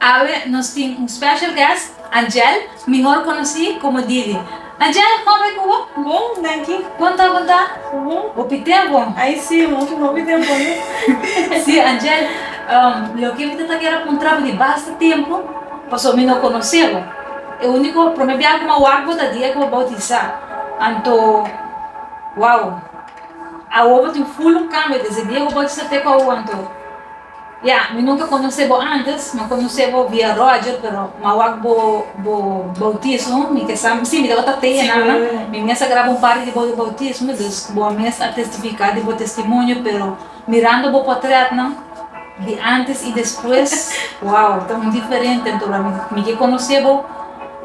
Awe nos tin un special guest, Angel, mihor conoci como Didi. Angel, con bai cu bo? Bon, danki. Bon ta, bon ta? Bo pitea bon? Ay si, un moto no pitea bon no. Si, Angel, loke mi ta ta kere puntra bo di basta tempo, paso mi no conoce bo. E unico prome bia cu mi a wak bo ta dia cu bo a bautisa. Anto, wow, awor bo tin full un cambio desde dia cu bo a bautisa te cu awor, anto. Ya, mi nunca conoce bo antes, mi a conoce bo via Roger, pero mi a wak bo bo bautismo, mi kesa, si mi tabata tei enana, mi mes a graba un parti di bo bautismo, dus bo a mes a testifica di bo testimonio, pero mirando bo potretnan di antes y despues, wow, ta un diferente, anto mi ke conoce bo.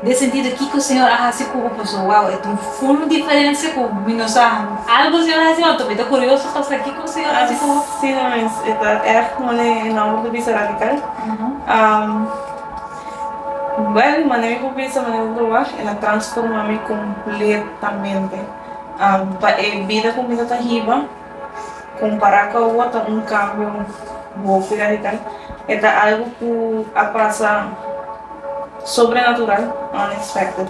Den sentido kiko Señor a hasi ku bo paso wow e ta un ful diferencia ku mi no sa algo Señor a hasi ma mi ta curioso pa sa kiko Señor a hasi ku bo. Así nan mes e ta erg mone e nomber di bisa radical well mane mi por bisa mane mi por proba e na transforma mi completamente pa e bida ku mi ta ta hiba Compará cu awo ta un cambio boki radical. E ta algo cu a pasa sobrenatural, unexpected.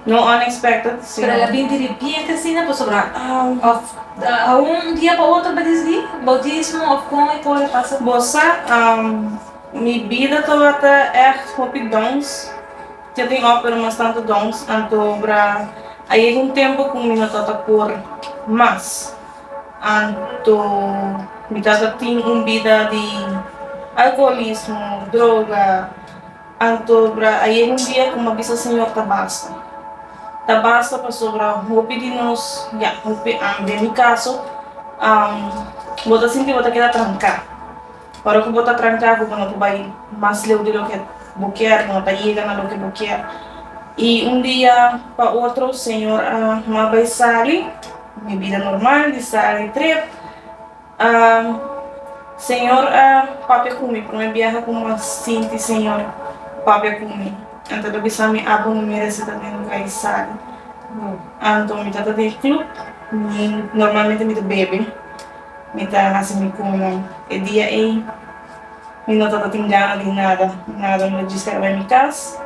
No unexpected, sino. Pero el a bini diripienti asina pasobra of aun un dia pa otro bo ta dici'di bautismo of con e cosa a pasa? Bo sa, mi bida tabata echt hopi downs. Ke tin òf pero mas tantu dòns, antobra a yega un tempu ku mi no ta ta por mas. Anto mi ta ta tin un bida di alkoholismo, droga. Antobra a yega un dia ku mi a bisa Señor ta basta. Ta basta pasobra hopi di nos, ya hopi ami den mi kaso, bo ta sinti bo ta keda tranká. Ora ku bo ta tranka ku bo no por bai mas leu di loke bo kier, bo no ta yega na loke bo kier. I un dia pa otro Señor a m'a bai sali mi bida normal di sali trip. Señor a papia ku mi, promé biaha ku m'a sinti Señor papia ku mi. Anto el a bisa mi, Abo no merese ta den lugá di sali. Anto mi tabata den club, normalmente mi ta bebe. Mi ta hasi mi kunan. E dia ei, mi no tabatin gana di nada, nada. Mi ta djistra bai mi kas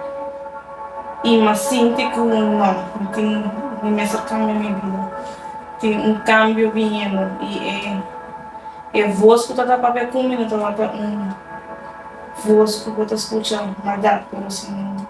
i m'a sinti ku no, mi tin, mi mester kambia mi bida. Tin un kambio biniendo i e, e vos ku ta tapabia ku mi no tabata un vos ku bo ta skucha maldat, pero si un.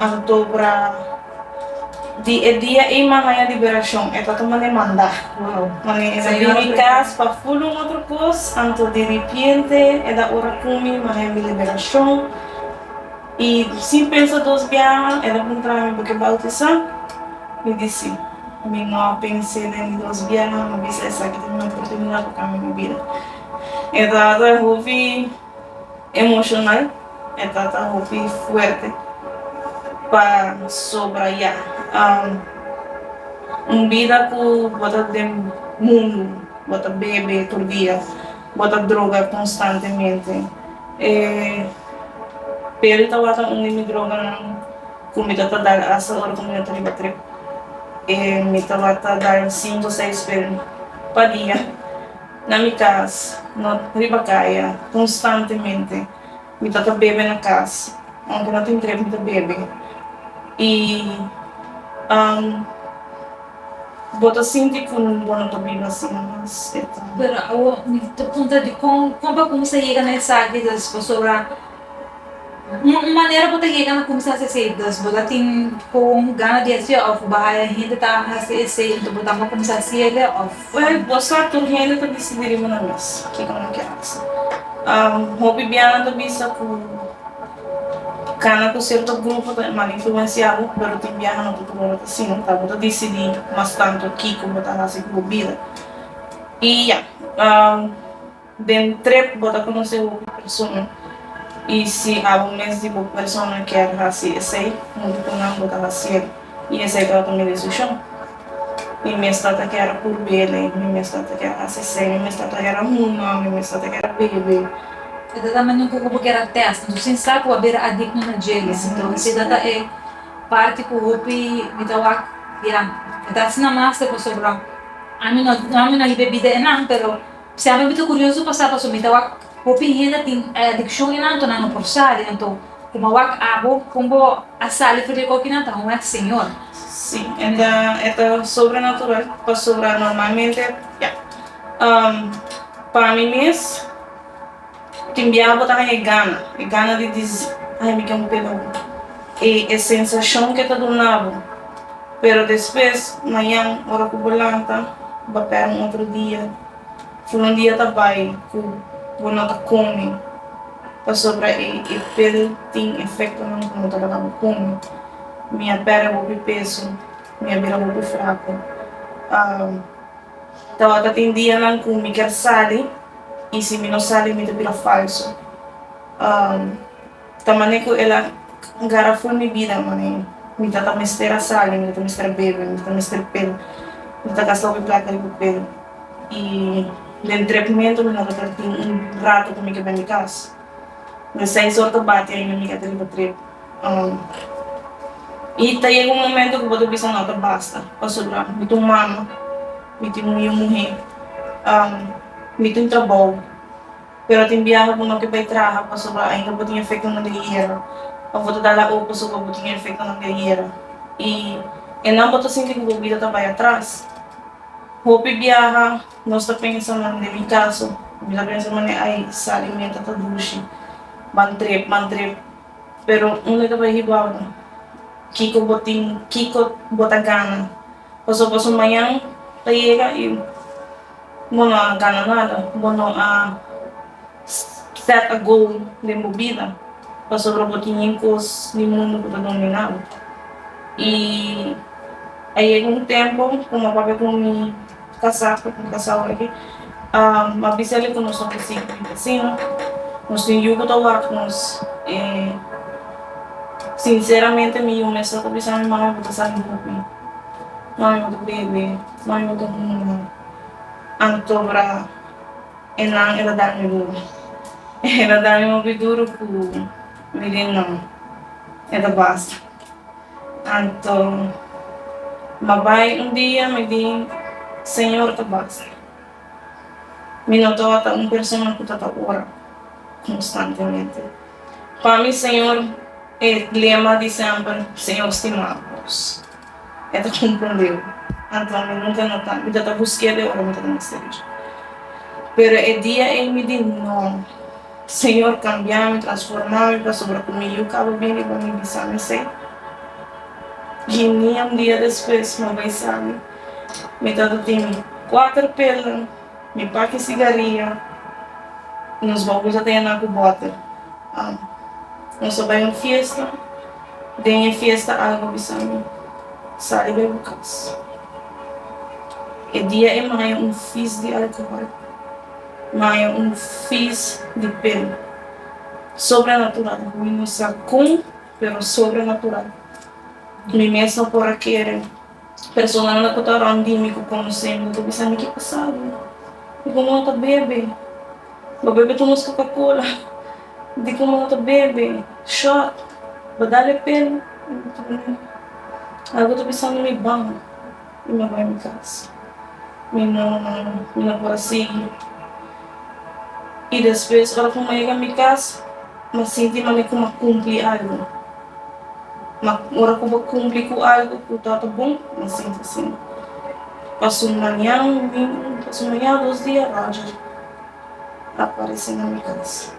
Antobra di e dia ei man haña liberashon, e tabata mane mandá. Mane e na bini kas pa ful un otro kos, anto di ripiente e da ora kumi man haña mi liberashon. I sin pensa dos biaha el a puntrami, Bo ke bautisá? Mi di sí. Mi no a pens'é den di dos biaha, mi bisa esaki ta kumi oportunidad pa kambia mi bida. E tabata hopi. Emocional, e ta ta hopi fuerte pasobra ya un bida cu bo ta den mundo, bo ta bebe tur dia, bo ta droga constantemente. E peri tabata un di mi droganan cu mi ta ta dal hasta ora cu mi no ta riba trip. Mi tabata dal cinco seis peri pa dia. Na mi cas, no riba caya, constantemente mi ta ta bebe na cas, aunke no tin trep mi ta bebe y um bo ta sinti cu bo no ta biba asina mas, e ta. Pero awo mi ta puntra di con, con pa cuminsa yega na esaki des pasobra. Un manera bo ta yega na kumsa hasi esei, dus bo ta tin kon gana di hasi'e òf bo haya hende ta hasi esei anto bo tambe a kumsa hasi el òf? Well, bo sa tur hende ta bisa di riba nan mes kiko nan kier hasi. Hopi biaha nan ta bisa ku kana ku sierto grupo ta mal influensiá bo, pero tin biaha no ta tur ora ta asina, ta bo ta disidí mas tantu kiko bo ta hasi ku bo bida. I ya. Den trip bo ta conoce hopi persona y si abo mes di bo persona kier haci esey, modo cu nan bo ta haciel y esey trata mi decision. Mi mes ta ta kier a purbele, mi mes ta ta kier a haci esey, mi mes ta ta kier a huma, mi mes ta ta kier a bebe. E ta ta manera cu bo kier a test, entonces sin sa cu a bira adicto na djele, entonces si ta ta e parti cu hopi mi ta wak ya, mi ta haci na master pasobra ami no ami no hay bebida enan pero. Siempre mi ta curioso pasa paso mi ta wak hopi hende tin adiccion y nan anto nan no por sali, anto como a wak abo con bo a sali for di e coki nan ta honger di Señor. Sí, enda e ta sobrenatural, pasobra normalmente, ya, pa mi mes. Tin bia bo ta haña e gana, e gana di dici, ay mi ken pena bo, e e sensacion ke ta duna bo, pero despues mañan ora ku bo lanta bo pera un otro dia, fun un dia ta bai ku bo no ta komi pasobra e e pil tin efectonan ku no ta laga bo komi, mi a perde hopi peso, mi a bira hopi fraku. Tabata tin dianan ku mi ker sali i si mi no sali mi ta bira falsu. Ta manera ku el a gara ful mi bida mane mi ta ta mester a sali, mi ta ta mester a bebe, mi ta ta mester pel, mi ta ta gasta hopi plata riba pel i den trep mentu mi no ta tin un ratu ku mi ke bende kas. Di seis or ta bati aina mi yega ta riba trep. I ta yega un momento ku bo ta bisa no ta basta, pasobra mi ta un mama, mi tin un yu muhé, mi tin trabou, pero tin biaha ku no ke bai traha pasobra ainda bo tin efektonan di gera òf bo ta dal a oku pasobra bo tin e efektonan di e gera. I esnan bo ta sinti ku bo bida ta bai atras. Hopi biaha nos ta pensa, na mi kaso, mi ta pensa manera, ai sa alimentu ta dushi, ban trep, ban trep, Pero unda ke bo a hiba awe? Kiko bo tin, kiko bo ta gana? Paso paso mañan ta yega y bo no a gana nada, bo no a set a goal den bo bida, pasobra bo tin yin kos di mundo ku ta domina bo. Y a yega un tempo ku mapapi ku mi. Casá cu tin casá hopi ma bisele cu nos a hosig tin casino nos tin yu cu ta wak nos y sinceramente mi yu mester ta bisa mi mami bo ta sali hopi mami bo ta bebe mami bo ta hunga anto bra e nan e ta dami hopi e ta dami hopi duro cu mi den nan e ta basta. Anto ma bai un dia mi bin Señor ta basa. Mi no tabata un persona cu ta ta ora constantemente. Pa mi Señor e lema di semper Señor stima nos e ta cumprendeu. Anto mi nunca no ta, mi ta ta busqu'e de ora mi ta ta mester ir. Pero e dia ey mi di no. Señor cambiami, transformami pasobra cu mi yu caba bin riba mi bisami esey. Y ni un dia despues mi a bay sali, mi tata tin cuater pelden, mi paki sigaria y nos baul sa ta yana cu boter. Nos a bay un fiesta, den e fiesta Alba a bisami, Sali bay bo cas. E dia e maya un fis di alcohol. Maya un fis di pena. Sobrenatural, mi no sa con, pero sobrenatural. Mi mes no por a kere personanan cu ta rond di mi cu conoce mi ta bisa mi ki pasado di como no ta bebe, bo bebe tu nos coca cola, di como no ta bebe shot, bo dale pel, algo ta bisami mi bang. Mi no bai mi cas. Mi no mi no por a sigui. I despues ora cu mi a yega mi cas mi a sinti manera cu mi a cumpli algu. Ma ora cu bo cumpli cu algu cu ta ta bon mi a sinti asin. Pasun maña domingu pasun maña dos dia Roger a parece na mi cas.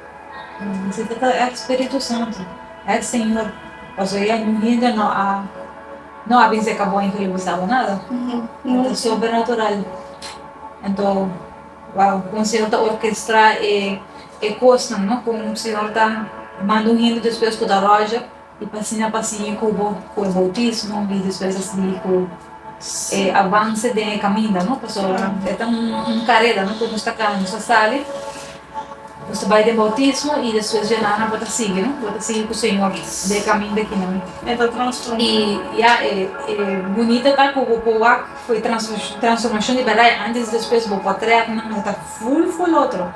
Si ta ta ex Spiritu Santu, ex Señor, paso e a bini dja no a. No a bin ser ka bon i hribu sabo nada. E ta sobrenatural. Anto, wou, kon Señor ta orkestrá e kosnan, no? Kon Señor ta manda un hende despues ku ta roja i pa asina pa sigui ku bo, ku e boutismo i despues a sigui ku e avanse den e kaminda, no? Pasobra e ta un kareda, no? Ku nos ta kaba, nos ta sali. Nos ta bai den boutismo i despues djanan nan bo ta sigui, no? Bo ta sigui ku Señor den e kaminda aki nan. E ta transformá. I ya, e bunita ta ku bo por wak ku e transformashon di bèrdat i antes i despues bo por trèk nan e ta ful ful otro,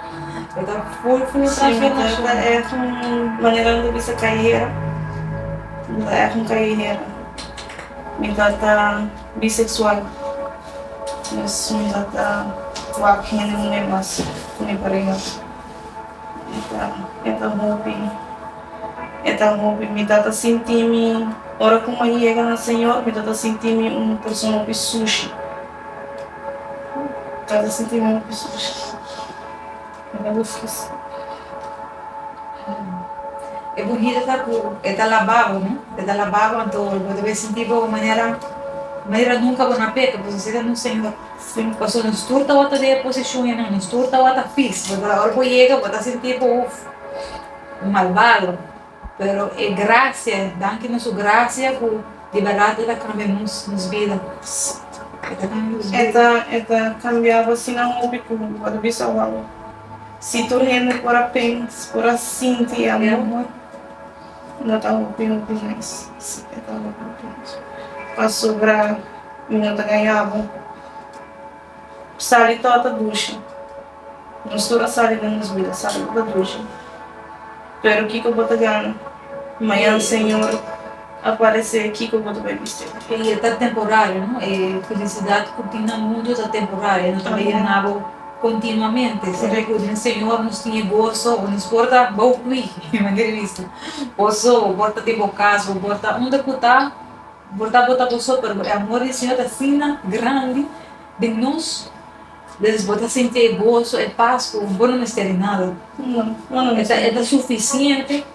e ta ful ful otro transformashon. Simi ta èf un manera nan ta bisa kaiera, nan ta èf un kaiera, mi ta ta biseksual. Sumida ta wak hende muhé mas ku mi pareha. E ta e ta hopi e ta hopi mi ta ta sinti mi ora ku mai yega na Señor mi ta ta sinti mi un persona hopi sushi ta ta sinti mi hopi sushi. E burgida ta cu e ta laba bo, no? E ta laba bo anto bo ta sinti bo un manera, manera nunca bo na peca, pues asina nos señor, señor pasobra nos tur tawata den e posicion enan, nos tur tawata pis, ora bo yega bo ta sinti bo, uf, un malbado. Pero e gracia, danki na su gracia cu di berdad e ta cambia nos, nos bida. E ta cambia nos E bida. ta, e ta cambiaba asina hopi cu bo ta bisa, wow, si tur hende por a pens, por a sinti e E amor, amor. no ta hopi, hopi mais. Si, e ta hopi, hopi mais. Pasobra mi no ta gayaba. Sali to ta dushi. Nos tur a sali den nos bida, sali to ta dushi. Pero kiko bo ta gana mañan Señor a parese, kiko bo ta bai bisti? E i e ta temporario, no? E felisidat ku tin na mundu ta temporario, e no ta bai yana bo kontinuamente. Siempre ku den Señor nos tin e goso, nos por ta bou kui, manera di bisti, o so, bo por ta den bo kas, bo por ta unda ku ta. Por ta bo ta bo so, pero e amor di Señor ta asina grandi den nos, dus bo ta sinti e goso, e pas ku bo no mester di nada. E ta sufisiente,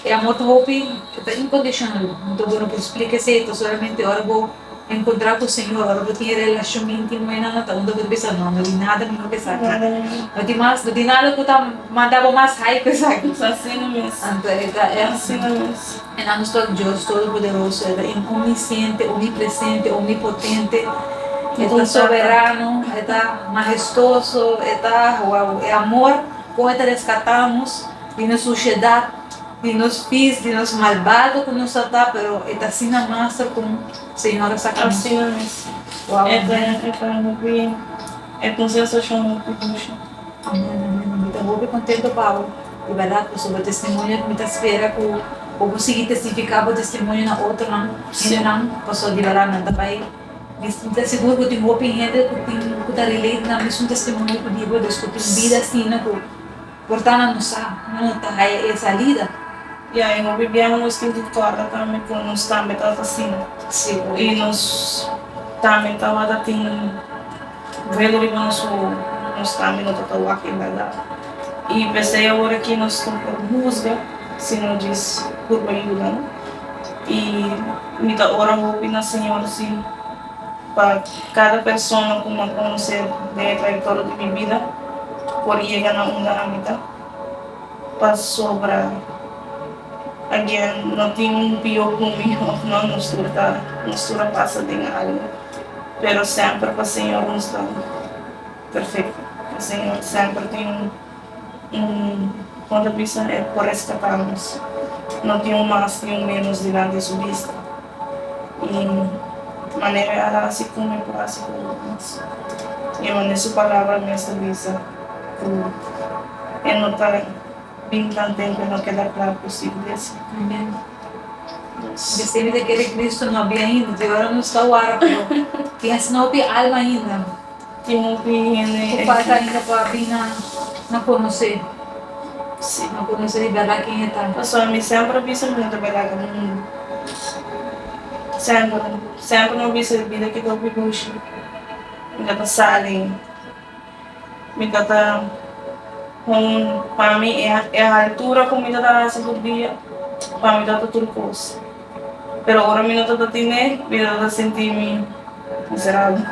e amor ta hopi, e ta inkondishonal, enton bo no por splika esei, ta solamente ora bo enkontrá ku Señor, ora bo tin e relashon íntimo ei nan ta unda bo ta bisa, no, no tin nada mihó ku esaki, no tin mas, no tin nada ku ta manda bo mas hai ku esaki, anto e ta e asina mes. En anus tok Dios Todopoderoso, e ta in omnisciente, omnipresente, omnipotente, e ta soberano, e ta mahestoso, e ta wow, e amor kon e ta rescata nos di nos suciedad, di nos pis, di nos malbado cu nos a ta, pero e ta asina master con Señor a saca nos. Así es. Wow, amen. E ta e ta no bien, e ta un sensacion no ta dulce. Amen amen mi ta hopi contento pa bo y verdad paso bo testimonio mi ta spera cu bo por sigui testifica bo testimonio na otronan gentenan paso di verdad nan ta bay mi ta segur cu tin hopi gente cu tin cu ta relate nan misun testimonio cu di bo dus cu tin bida asina cu por ta na nos sa no no ta haya e salida Ya y hopi bia nos tin cu torta tambe cu nos tambe ta ta asina y nos tambe tawata tin. Bueno riba nosohon, nos tambe no ta ta wak en bardad. I p'esei awor aki nos no por husga, sino djis purba yuda no. I mi ta ora hopi na Señor si pa cada persona cu mi a conoce den e trayectorio di mi bida por yega na unda ami ta, pasobra agen no tin un pio cu mi of no nos tur ta nos tur a pasa den algo. pero semper pa Señor nos ta perfecto, pa Señor semper tin un un como ta bisa e por rescata nos, no tin un mas ni un menos dilanti su bista, y manera el a haci con mi por haci con nos, y manera su palabra mes ta bisa cu e no ta. Mientras den cu no keda cla cu si iglesia primer Dios. Distí mi ta kere Cristo no habia ainda, di ora nos ta wara pero tin asina hopi alma ainda Tin hopi hende cu falta ainda pa bin na na conoce, Sí. na conoce di berdad ken e ta. Pasobra mi semper a bisa muda berdad den mundo, semper, semper mi a bisa bida ki ta hopi dushi, mi no ta sali. Mi ta ta hon pa mi e e haltura ku mi ta ta hasi tur dia, pa mi ta ta tur kos. Pero ora mi no ta ta tine, mi ta ta sinti mi miserabel,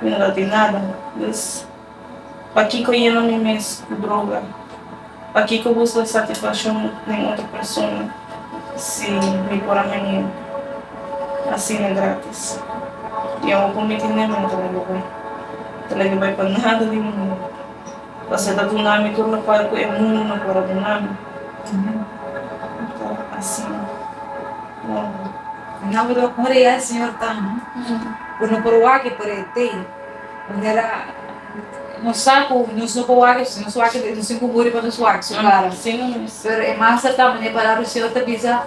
mi no ta tin nada. Pues, pakiko yena mi mes ku droga? Pakiko busca satisfaccion den otro persona si mi por a haya asina gratis? Di awor pa mi tende mi no ta lege bay, no ta lege bay pa nada den e mundo, pasobra e ta duna mi tur locual cu e mundo no por a duna mi, ta asina no. Nan por ora y a e Señor ta amo, pero no por wak y por e tey manera. Nos sa ku nos no por wak, si nos wak e nos tin ku muri pa nos wak su kara. Pero e mas serkan manera palabra di Señor ta bisa,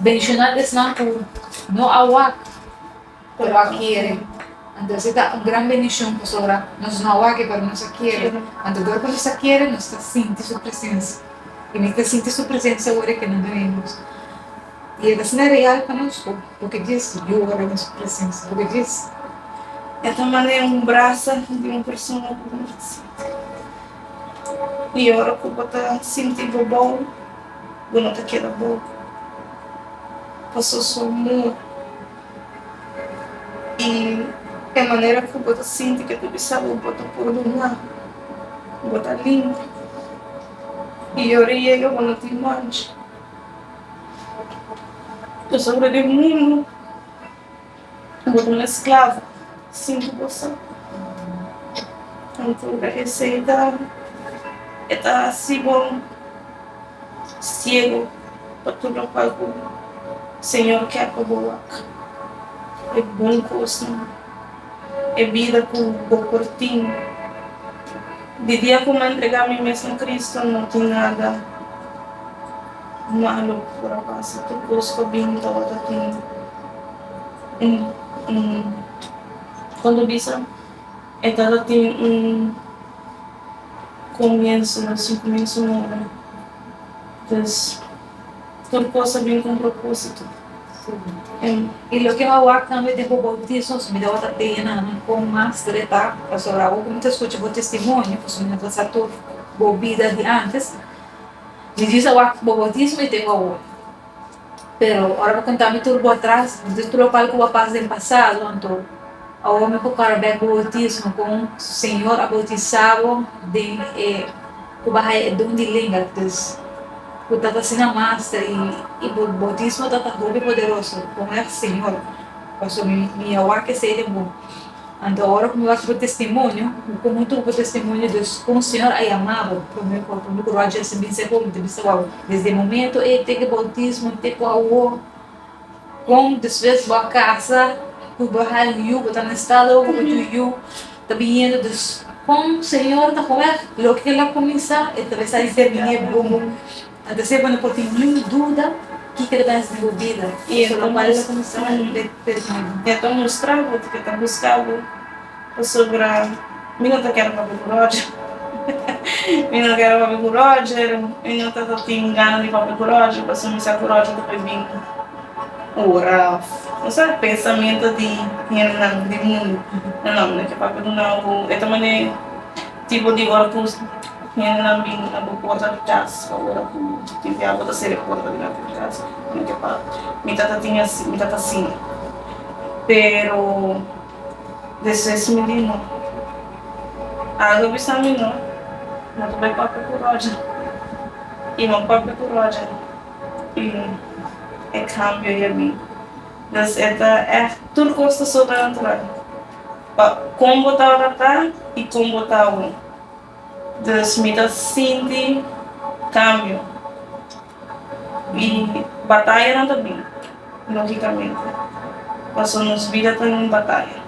Benshonad esnan ku no a wak pero a kere. Anto e ta un gran bendishon pasobra nos no a wak pero nos a kere. Anto dor ku nos a kere nos ta sinti su presensia i mi ta sinti su presensia ora ke nan ta bini nos. y e ta ser real pa nos porque djis yora na su presensa, porque djis e ta manera un brasa di un persona cu bo ta sinti. Y ora cu bo ta sinti bo bou, bo no ta keda bou pasobra su amor y e manera cu bo ta sinti cu e ta bisa bo bo ta pordona, bo ta limpi y ora e yega bo no tin mancha. Nos ora den mundu ku bo ta na sklavo sin ku bo sa. Anto esei ta e ta hasi bo siegu pa tur lokual ku Señor ker pa bo wak, e bon kosnan. e bida ku bo por tin. Di dia ku m'ha ntregá mi mes na Kristu, no tin nada malu ku por a pasa, tur kos ta bini tabata tin un un kon ta bisa e tabata tin un komienso, nos un komienso nobo. Entonces. Tur cosa bin cu un proposito. Y loke awor tambe den bo bautizo, pasobra mi tabata teña nan nan con mas dreta, pasobra awor cu mi ta scucha bo testimonio, pasobra mi no ta sa tur bo bida di antes, mi dios awor bo bautizo mi tengo awor. Pero ora bo conta mi tur bo atras, mi dios tur locual cu bo a pasa den pasado, anto awor mi por cora bek bo bautizo, con señor a bautisa bo den e. Ku bo a haya e don di lenga, dus ku ta ta sina master, i i bo boutismo ta ta hopi poderoso, honra Señor, paso mi mi ya wak esei den bo. Anto ora ku mi wak bo testimonio, mi komo tugu bo testimonio, dus kon Señor a yama bo, promé ku promé ku Roger a simbin sey hopi, mi ta bisa wak bo. Desde e momentu ei te ku e boutismo te ku awor, Con despues bo a casa cu bo haal yu bo ta na esta lo cu bo jubi yu ta biniendo dus con señor ta comer lo que el a cuminsa el ta bisa y ser minie bobo anta asina bo no por tin niun duda kiko ta bens den bo bida y el ta cuminsa be permitibo. Pasobra mi no ta kere papia ku Roger, mi no kere papia ku Roger, mi no ta ta tin gana di papia ku Roger paso mi sa ku Roger ta por bin ora of no sa pensamentu di hendenan di mundu no no mi no ke papia ku nan ku e ta mane tipo di ora ku hendenan bin na bo porta di kas o ora ku tin bia bo ta sere porta di nan di kas mi no ke papia mi ta ta tin asi mi ta ta siña pero. Despues mi di no. Aldo bisa mi no, no ta bay papia cu Roger. Y no papia cu Roger tin e cambio y a bin. Pues e ta echt, tur cos ta sobrenatural. Pa con bo ta ora ta y con bo ta awe. Pues mi ta sinti cambio. Y bataya no ta bini logicamente paso nos bida ta un bataya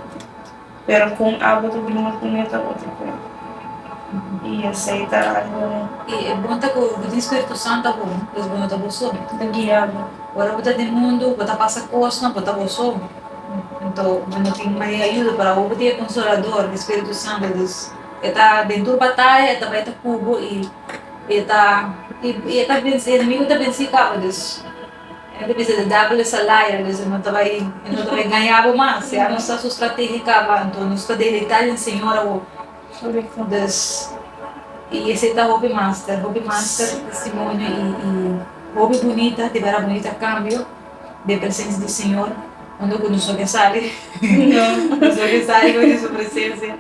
pero con abo ta bini nos munia ta otro cuento y esey ta algo. Y e bon ta cu bo tin spiritu sant ta bon pues bo no ta bo so ta guia bo ora bo ta den mundo bo ta pasa cosnan bo ta bo so ento bo no tin mai ayuda pero abo bo tin e consolador e spiritu santo dus e ta den tur bataya e ta bai ta cu bo y E ta, i e ta bens, e enemigu ta bensí kaba. Dus, e ta bisa, di dèvel es a liar, dus e no ta bai, e no ta bai gañá bo mas. Ya nos sa su strategia kaba, anto nos ta deleitá den Señor awor. Dus, i esei ta hopi master, hopi master testimonio i, i hopi bunita, di bera bunita kambio den presensia di Señor, unda ku nos no ke sali, nos no ke sali bai di su presensia.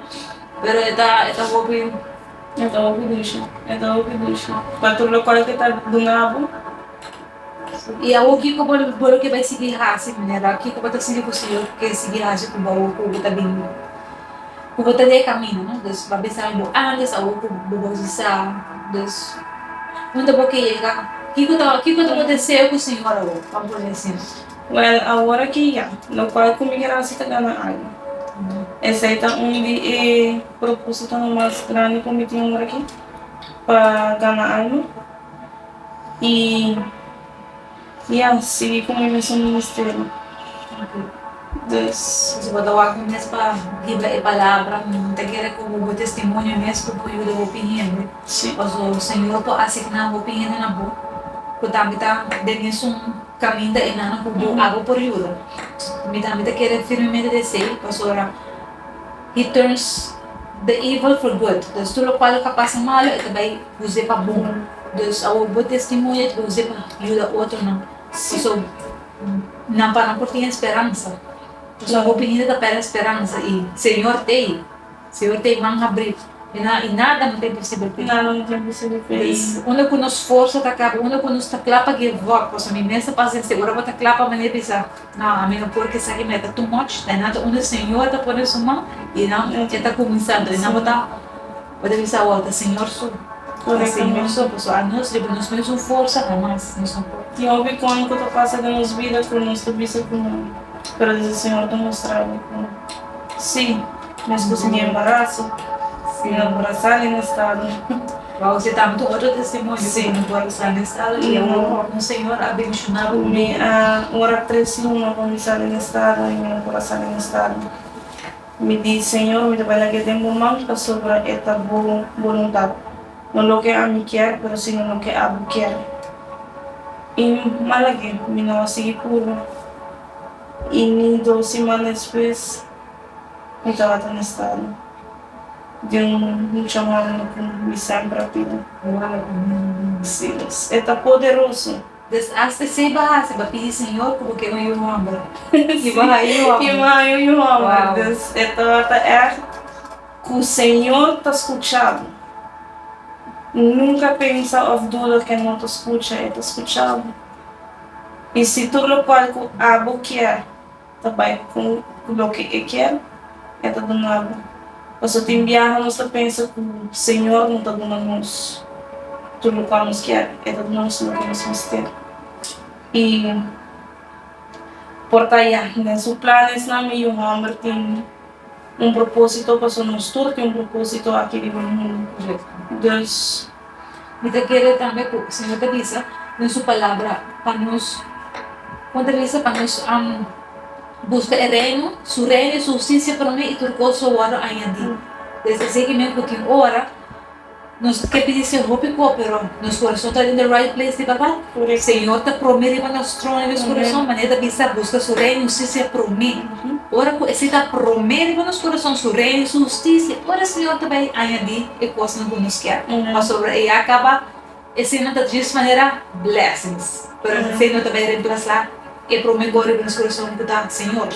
Pero e ta, e ta hopi. E ta hopi dishi, e ta hopi dishi. Pa tur locual cu e ta duna bo. Y awo kico bo lo ke bay sigui haci, manera kico bo ta sinti cu Señor ke sigui haci cu bo awo cu bo ta bini, cu bo ta deha camina, no? Pues bo a bisa mi bo antes awo cu bo bautisa. Pues unda bo ke yega? Kico ta, kico ta bo deseo cu Señor awo? Bo a pone asin. Well, awor aki ya, locual cu mi gracia ta gana algu. Esey ta un di e. Propósitonan mas grandi ku mi tin ora aki pa gana alma i ya sigui ku mi mesun ministerio. Des. Si bo ta wak mes pa hibra e palabra, bo ta kere ku bo testimonio mes ku por yuda hopi hende. Sí. Paso Señor por asigná hopi hende na bo ku tambe ta den mesun kaminda enana ku bo abo por yuda. Mi tambe ta kere firmemente di esei, pasobra. He turns the evil for good, dus tur lokual lo ta pasa malu e ta bai use pa bon. Dus awor bo testimonio e ta bai use pa yuda otronan, pasobra nan paran por tin e speransa. Pasobra bo binida ta pèrdè speransa i Señor t'ei, Señor t'ei man habrí i nada no ta imposibel pa el. Dus, unda ku nos forsa ta kaba, unda ku nos ta kla pa give up, pasobra mi mes ta pasa esei, ora bo ta kla pa manera di sa, No, ami no por kisa ki mi e ta too much, ta nan ta unda e Señor ta pone su man i nan e ta kuminsá tra, i nan bo ta bo ta bisa awo ta Señor su, ta Señor su, pasobra anos riba nos mesun forsa hamas nos no por. No hopi kon ku ta pasa den nos bida ku nos ta bisa ku no, pero desde Señor ta mostrá bo ku si. Mes ku si mi embaraso, si no por a sa den e stado. Wou, si tabata un otro testimonio ku no por a sa den e stado i awor un señor a bendishonaba ku mi. Mi a ora tres luna pa mi sa den e stado i mi no por a sa den e stado. Mi di, Señor, mi ta bai laga e den bo man pasobra e ta bo boluntat, no loke ami kier, pero sino loke abo kier. I mi a laga, mi no a sigui purba. I ni dos simana despues. mi tabata na estado di un mucha mano ku mi semper a pidi. Si, e ta poderoso. Des asta esei bo hasi, bo a pidi Señor ku bo keba yu hòmber, i bo haña yu hòmber. I bo haña yu hòmber. Dus e tabata ègt ku Señor ta skucha bo. Nunka pensa òf duda ku e no ta skucha, e ta skucha bo. I si tur lokual ku abo kier. ta bai con cu loke e kier e ta duna bo. Paso tin biaha nos ta pensa cu Señor no ta duna nos tur locual nos kier, e ta duna nos loke nos mester. Y por ta ya, den su planesnan mi yu homber tin un proposito, paso nos tur tin un proposito aki riba mundu. Deus. Mi ta kere tambe ku Señor ta bisa den su Palabra pa nos, kon ta bisa, pa nos buska e Reino, su Reino i su hustisia promé i tur kos lo wòrdu añadí. Desde esaki men ku tin ora nos ke pidi si hopi koperon, nos kurason ta den di right place di Babá. Señor ta prome riba nos tron di nos kurason, manera e ta bisa, A buska su reino i hustisia prome. Ora ku esei ta prome riba nos kurason, su reino i su hustisia, ora e Señor ta bai añadí e kosnan ku nos kier. Pasobra e ya kaba, eseinan ta djis manera blessings, pero esei no ta bai remplasá e prome kos riba nos kurason ku ta Señor.